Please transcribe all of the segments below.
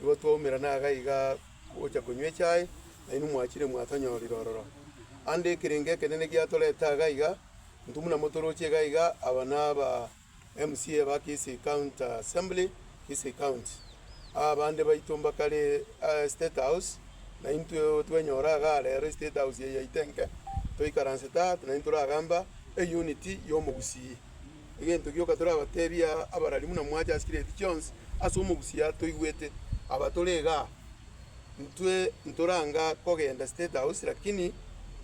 Nigo twaumera naga iga gocha konywa echae, nainwe mwachire mwatonyorire ororo. Ande ekerengo ekenene giatorete aga iga, intwe buna motoroche iga iga, aba naba MCA ba Kisii County Assembly, Kisii County. Abande baito mbakare aa State House, naintwe otwenyora iga rero eState House eye yaito enke, toikaransete aa, naintwe toragambe aa, eunity y'omogusii. Egento gioka torabatebie aa, abarari buna mwache ase chire ebi chionsi ase omogusia toigwete. Aba tore igaa, intwe ntoranga kogenda State House, lakini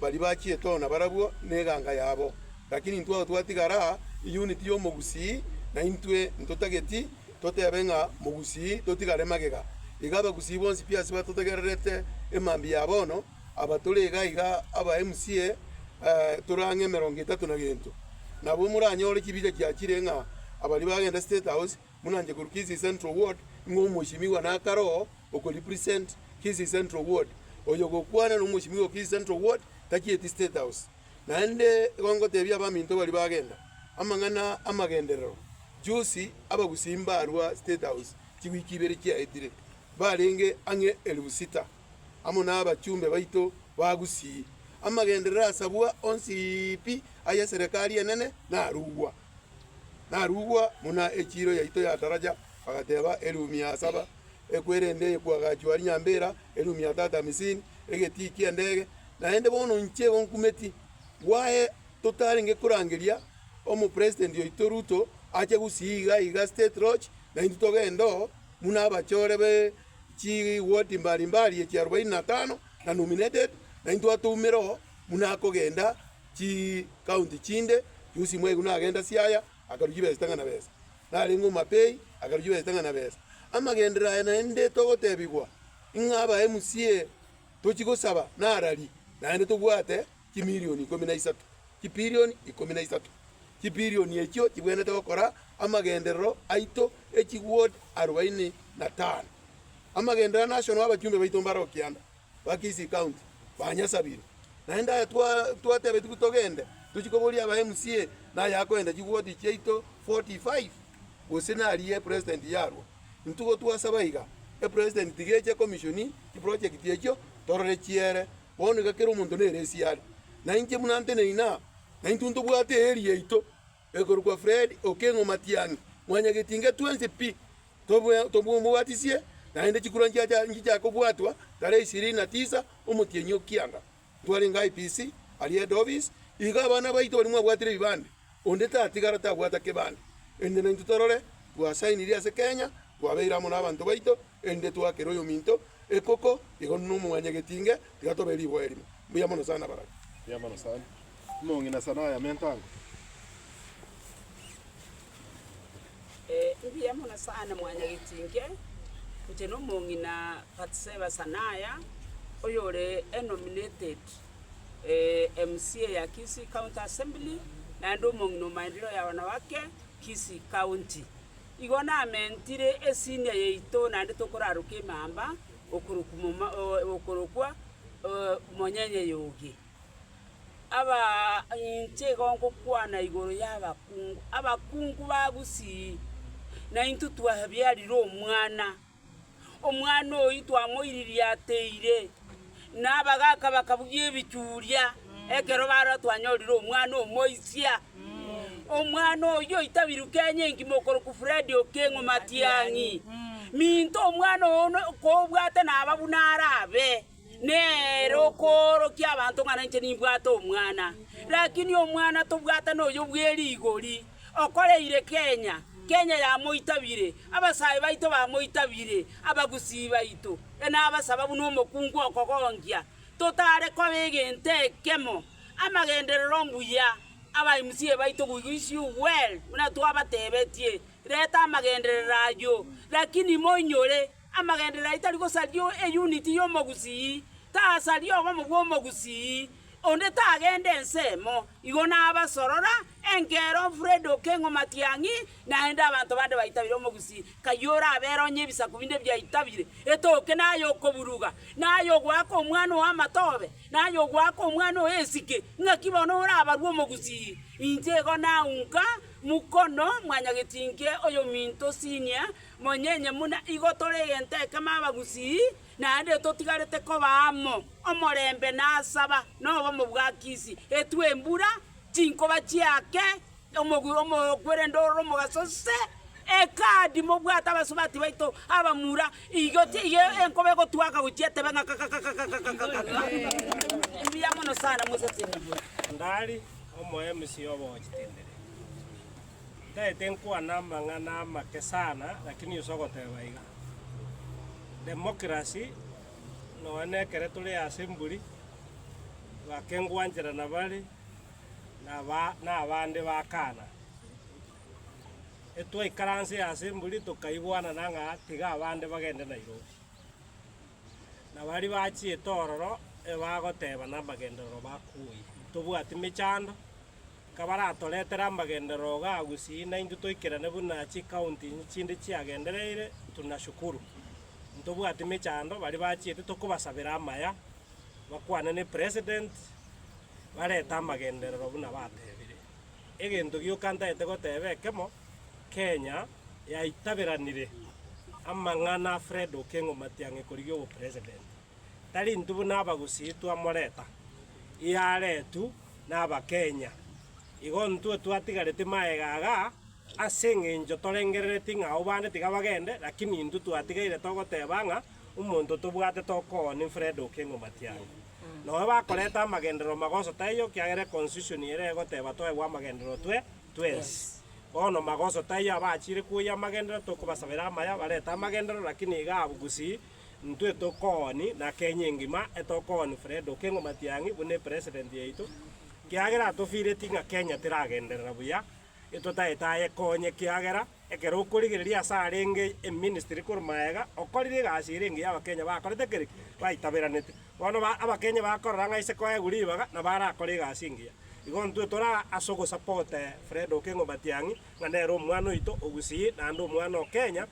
baria bachie toona barabwo neganga yabo. Lakini intwe ao twatigara aa, eunit y'omogusii, na intwe ntotageti totebe ng'a mogusii totigare magega. Iga abagusii bonsi pi ase batotegererete emambia ya bono, Aba tore iga iga aba MCA tore ang'e emerongo etato na gento. Nabo moranyore chibicha chiachire ng'a abaria bagenda State House buna inche korwa Kisii Central Ward ng'a omwosimigwa nakaroo oko represent Kisii Central Ward. Oyo ogokwana na omwosimigwa o Kisii Central Ward tachieti State House. Naende igo ngotebia abaminto baria bagenda amang'ana amagenderero juzi abagusii mbarwa State House chiwiki ibere chiaetire barenge ang'e elifu sita. amo nabachumbe baito ba gusii, amagenderero asabwa onsi pi ay'eserekari enene narugwa. Narugwa buna echiiro yaito yataracha, bagateba, Erumi ya saba ekwe, erende eyekwa agachua ari nyambera, erumi ya tata amisini, egetii ki'endege. Naende bono inche igo nkumeti, gwaye totarenge korangeria Omopresident oito Ruto ache gusii iga iga State Lodge, naintwe togende oo buna abachore be Chigoti mbari mbari echi arobaini na tano na nominated, na intwe atoumere oo buna akogenda chikaunti chinde chionsi mwaigu nagenda Siaya akaru chibesa chitang'ana besa, narenge Omapei akaru chibesa chitang'ana besa. Amagenderero aya naende togotebigwa, ing'aba MCA tochi gosaba narari naende tobwate. chimilioni ikomi na isato, chipilioni ikomi na isato, chipilioni echio chibwenerete gokora amagenderero aito echigwood arubaini na tano. Amagenderero nationwe abachumbe baito mbare o kianda ba Kisii County banyasabire. Naende aya twatebetigwe togende tochie koboria aba MCA naye akoenda chigwood chiaito 45 gose nari e president yarwo. Intwe gotwasaba iga e president tiga eche e commissioni chiprojekti echio torore chiere Bono iga kera omonto nere esie are, na inche buna nte neina, na intwe ntobwate eeri yaito, ekorokwa Fred, Okeng'o, Matiang'i, Mwanyagetinga, twensi pi tomobwatisie, naende chikurwa nchicha kobwatwa tarehe ishirini na tisa omotienyi o Kianga, ntwarenge IPC aria head office, iga abana baito baria mwabwatire ebibande, onde tatigara tabwata kebande, ende naintwe torore twasainiri ase Kenya, twabeire amo nabanto baito, Erinde twakere oyominto ekoko, igo nomwanya getinge, tiga tobe riboe rimo. Mbuya mono sana barabwo. Mbuya mono sana. Omong'ina sana aya mento ango. Mbuya mono sana mwanya getinge, inche nomong'ina Bathsheba sana aya, oyore enominated MCA ya Kisii County Assembly, naende omong'ina o maendeleo ya wanawake Kisii County. Igo namentire esinia yaito naende tokoraroka emamba okorokwa Monyenye y'Ogie. Aba inche igo ngokwana igoro y'abakungu, abakungu ba gusii, naintwe twabiarire omwana. Omwana oyio twamoiririe ateire, na abagaaka bakabugia ebichuria ekero baarora twanyorire omwana omoisia. Omwana oyio oitabirwe Kenya engima okorokwa Fred Okengo Matiang'i. Minto omwana one kobwate naba buna arabe nere okoorokia abanto ng'a ninche nimbwate omwana, lakini omwana tobwate noyo bw'erigori. Okoreire Kenya, Kenya yamoitabire, abasae baito bamoitabire, abagusii baito. E nabasaba buna omokungu okogonkia, totare koba egento ekemo, amagenderero ombuya aba MCA baito goigo is you well buna twabatebetie, reta amagenderero ayio lakini moinyore amagenderero ayio tari gosaria e unit ya omogusii, tasaria obomo bwa omogusii, onde tagende ensemo, igo nabasorora Enkeroa Fred Okengo Matiang'i naende abanto bande baitabire omogusii Kayole abere onye ebisaku binde biaitabire, etoke, na ay'okoburuga, na ay'ogoaka omwana oo amatobe, na ay'ogoaka omwana oo esike. Ng'aki bono orabarwe omogusii? Inche igo naunka Mukono mwanyagetinke oyominto senior monyenye muna igo tore egento ekemo abagusii naende totigarete koba amo omorembe nasaba nobomo bwa kisi etwe embura Chinkoba chiake omogwi omokwerende ororo omogaso se, ekadi mobwate abasubati baito abamura, igo ti igo enkoba egotwaka gochia etebe ng'a kakakakakakakaka. Mbuya mono sana mosase nibura. Ngari omoemisi obo chitendere. Ntaete nkwane amang'ana amake sana lakini use ogoteba iga. Democracy Noone ekero tore ase mburi, bakengwanchera nabare nabande bakaana. Etwaikaranse ase mburi tokaigwanana ng'a tiga abande bagende Nairobi. Na baria bachiete ororo ebagoteba namagenderero bakuuye, tobwati mechando, Kabaratoretere amagenderero ga gusii naintwe toikerane buna chikaunti chinde chiagendereire, tunashukuru. Ntobwati mechando, baria bachiete tokobasabera amaya, bakwane ne president, barete amagenderero buna batebire. Egento gioka ntaete goteba ekemo, Kenya yaitaberanire amang'ana a Fred Okengo Matiang'i korigia obo president. Tari intwe buna abagusii twamoreta, yaretu. n'Abakenya. Igo intwe twatigareti magega iga ase engencho torengerereti ng'a abo bande tiga bagende, lakini intwe twatigaire togoteba ng'a omonto tobwate tokoonia Fred Okengo Matiang'i. Nonya bakoreta amagenderero magoso taiyo kiagera econstitution ere egoteba toegwe amagenderero twe twensi. Bono magoso taiyo abachiire koyia amagenderero tokobasabera amaya barete amagenderero lakini iga abwo gusii. Intwe tokooni na Kenya engima etokooni Fred Okengo Matiang'i buna epresident yaito kiagera atofireti ng'a Kenya teragenderera buya etotaete aye konye kiagera ekero okorigereria ase arenge eministry korwa maega okorire egasi ere engiya abakenya bakorete keri ki? baitaberanete bono ba abakenya bakorora ng'a ase koegwa ribaga nabo arakore egasi engiya igo intwe tora ase ogosapote Fred Okengo Matiang'i ng'a nere omwana oito ogusii naende omwana o Kenya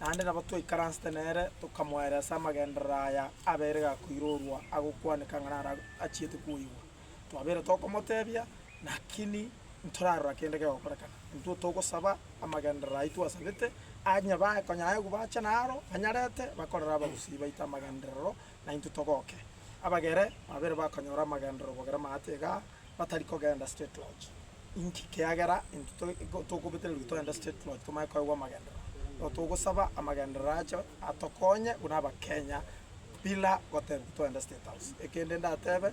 Naende nabo twaikaransete nere, tokamoeera ase amagenderero aya abeire gakoirorwa agokwaneka ng'a naro achiete kwoigwa. Twabeire tokomoteebia, naki ntorarora kende kegokorekana. Intwe togosaba amagenderero ayio twasabete, onye bae konya aye bache naro, banyarete, bakorere abagusii baito amagenderero, na intwe togoke. Abagere babeire bakonyora amagenderero bogere maate igaa, batari kogenda State Lodge. Inki? Kiagera intwe to, tokobetererigwa togende State Lodge tomanye koegwa amagenderero. Nabo togosaba amagenderero acho atokonye buna Abakenya bila gotebigwa togende State House. Ekende ndatebe,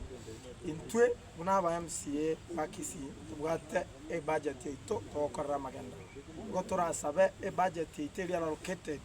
intwe buna aba MCA ba Kisii tobwate ebudget yaito togokorera amagenderero. Nigo torasabe ebudget yaito eria allocated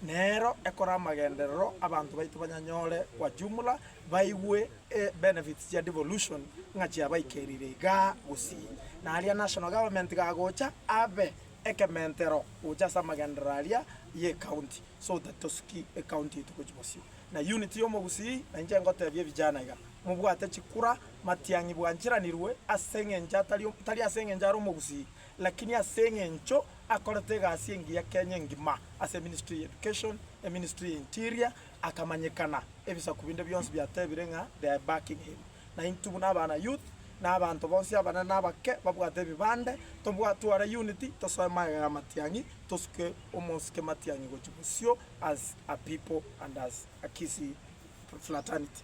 Nero ekore amagenderero abanto baito banyanyore gwa jumla baigwe e benefits chia devolution ng'a chiabaikerire igaa gusii. Na aria national government gagocha abe ekementero gocha ase amagenderero aria ye county so that tosuki e county yaito gochi bosio. Na unit ya omogusii na inche ngotebia evijana iga mobwate chikura matiang'i bwanchiranirwe ase eng'encho atari tari ase eng'encho are omogusii. Lakini ase eng'encho akorete egasi engiya Kenya engima ase eministry ya Education, eministry ya Interior, akamanyekana, ebisaku binde bionsi biatebire ng'a they are backing him. Naintwe buna abana youth, na abanto bonsi abanene na abake babwate ebibande, tobwate tware unity, tosoe magega ya matiang'i, tosuke omosike matiang'i gochia bosio as a people and as a Kisii fraternity.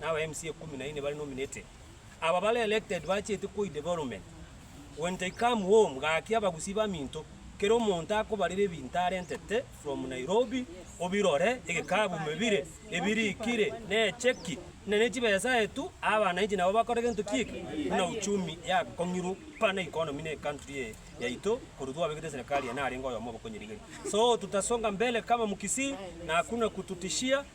na aba MC ekumi na ine bare nominated. Aba bare elected bachete koi development. When they come home gaki abagusii baminto, kera omonto akobarera ebinto arentete from Nairobi obirore, egekabu mebire ebirikire ne echeki na ne chibesa aye tu, aba wananchi nabo bakore gento ki'eke buna uchumi yakong'irwa buna economy ne country eye yaito korwa twabegete serikali eye narenge oyomo obokonyirigeria. So tutasonga mbele kama mkisii na hakuna kututishia.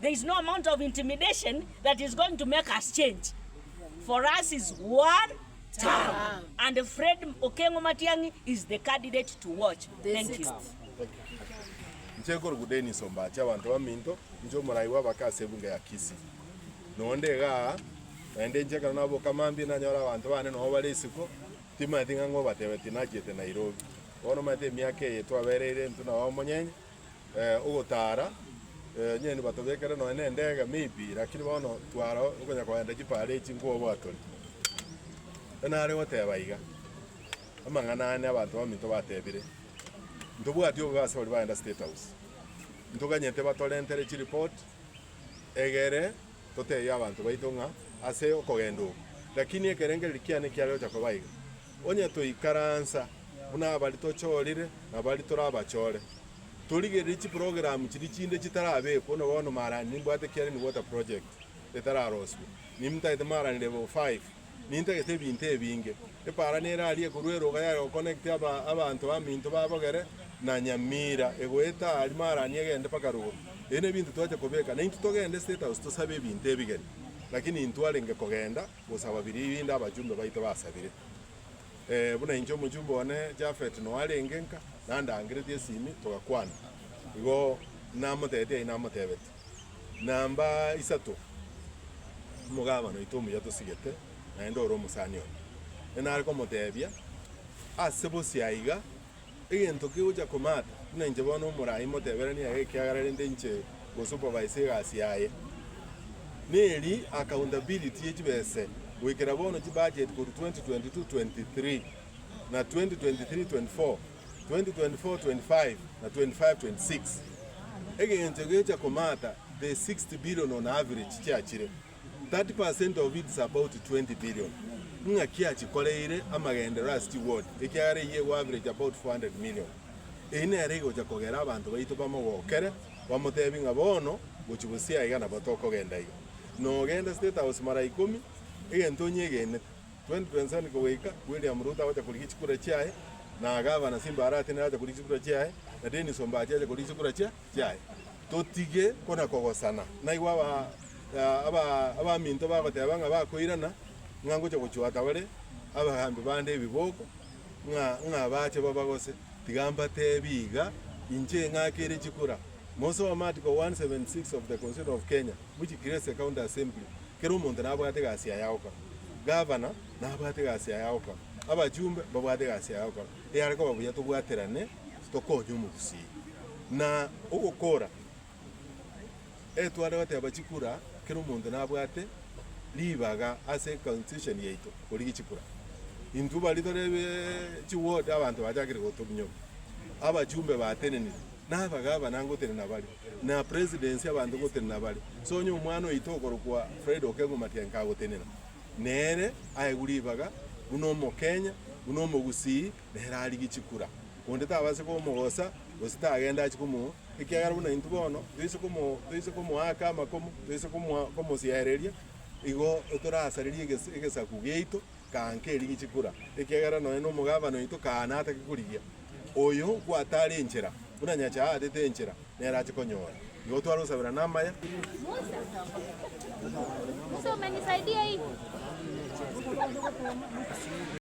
There is no amount of intimidation that is going to make us change. For us is one term. And Fred Okengo Matiang'i is the candidate to watch. Thank you. Inche nkorugu Dennis Ombachi abanto baminto, inche omorai bw'abake ase ebunge ya Kisii. Nonde iga aa, naende inche ekero naboka mambia nanyora abanto bane noo bare isiko, timanyeti ng'a ng'obatebe tinachiete Nairobi. Bono omanyete emiaka eye twabereire intwe nao omonyenye, ogotaara, onye nibatobekere nonya nendege maybe, lakini bono twara okonya kogenda chipara echi nkoba oboatoni. Ekio nare goteba iga, amang'ana ane abanto baminto batebire, ntobwati obobe ase baria bagenda State House, ntoganyete batorentere chireport, egere totebie abanto baito ng'a ase okogenda oko, lakini ekerengereri kiane ekiare gocha koba iga. Onye toikaransa buna abari tochorire na abari torabachore, torigererie chiprogramu chiria chinde chitarabekwo, na bono marani nimbwate Kiarini Water Project etararoswe, nimtagete marani level five, nintagete ebinto ebinge. Epara nere aria ekorwa eroga ya goconnect abanto baminto ba Bogere na Nyamira, egoeta aria marani egende mpaka rogoro. Ebi nebinto twachia kobeka. Naintwe togende State House tosabe ebinto ebigeni, lakini intwe arenge kogenda. Gosaba biria ebinde abachumbe baito basabire, ee, buna inche omochumbe one Jafet noarenge nka nandangeretie esimi togakwana. Igo namotebetie aye namotebetie, Namba isato omogabane oito omuya tosigete, naende ore omosani one. Inare komotebia, Ase bosio aiga Egento kegocha koma ata, buna inche bono omorai moteberanie aye ekiagera rende inche ngosupervise egasi yaye. Neri accountability ye chibese goikera bono chibudget korwa 2022-23 na 2023-24, 2024-25 na 25-26. Egento egegocha koma ata the 60 billion on average chiachire. 30 percent of its about 20 billion, ng'aki achikoreire amagenderero ase chiward, ekiagera eyio ego average about 400 million. Eyi nero egocha kogera abanto baito bamogokere, bamotebie ng'a bono gochia bosio aiga nabo tokogenda iga. Nogenda State House mara ikomi, egento onyegenete, 2027 kogoika, William Ruto agocha korigia chikura chiaye, na Gavana Simba Arati nere agocha korigia chikura chiaye, na Dennis Ombachi agocha korigia chikura chiaye. chiaye, totige kona kogosana. Naigwe abaminto bagoteba ng'a bakoirana, ng'a ngocha gochwata bare abagambi bande ebiboko, ng'a bache baba gose. Tiga mbateebie iga, inche ing'akire chikura. Mosome Article 176 of the Constitution of Kenya which creates the County Assembly. Kera omonto nabwate egasi yaye ya gokora. Gavana nabwate egasi yaye ya gokora. Abachumbe mbabwate egasi yaye ya gokora. Eyare koba buya tobwaterane Tokonya omogusii na ogokora. E tware goteba chikura, kera omonto nabwate ribaga ase constitution yaito korigia chikura. Intwe baria tore chi ward abanto bachakire gotominyoka. Abachumbe batenenire, naba gavana ngotenena bare, na presidency abanto ngotenena bare. So onye omwana oito okorokwa Fred Okengo Matiang'i kagotenena, nere aegwe ribaga buna omokenya, buna omogusii, nere arigie chikura, onde tabaase komogosa, gose tagende ache komoa, ekiagera buna intwe bono toise komo toise komoaka amakomo, toise komoa komosiereria, igo torasarerie egesa egesaku giaito kaa nkerigie chikura, ekiagera nonya na omogabana oito kaa natake korigia. Oyo gwatare enchera, buna Nyasae aatete enchera, nere ache konyora. Igo twarosabera namaya. Musa, umenisaidie hii.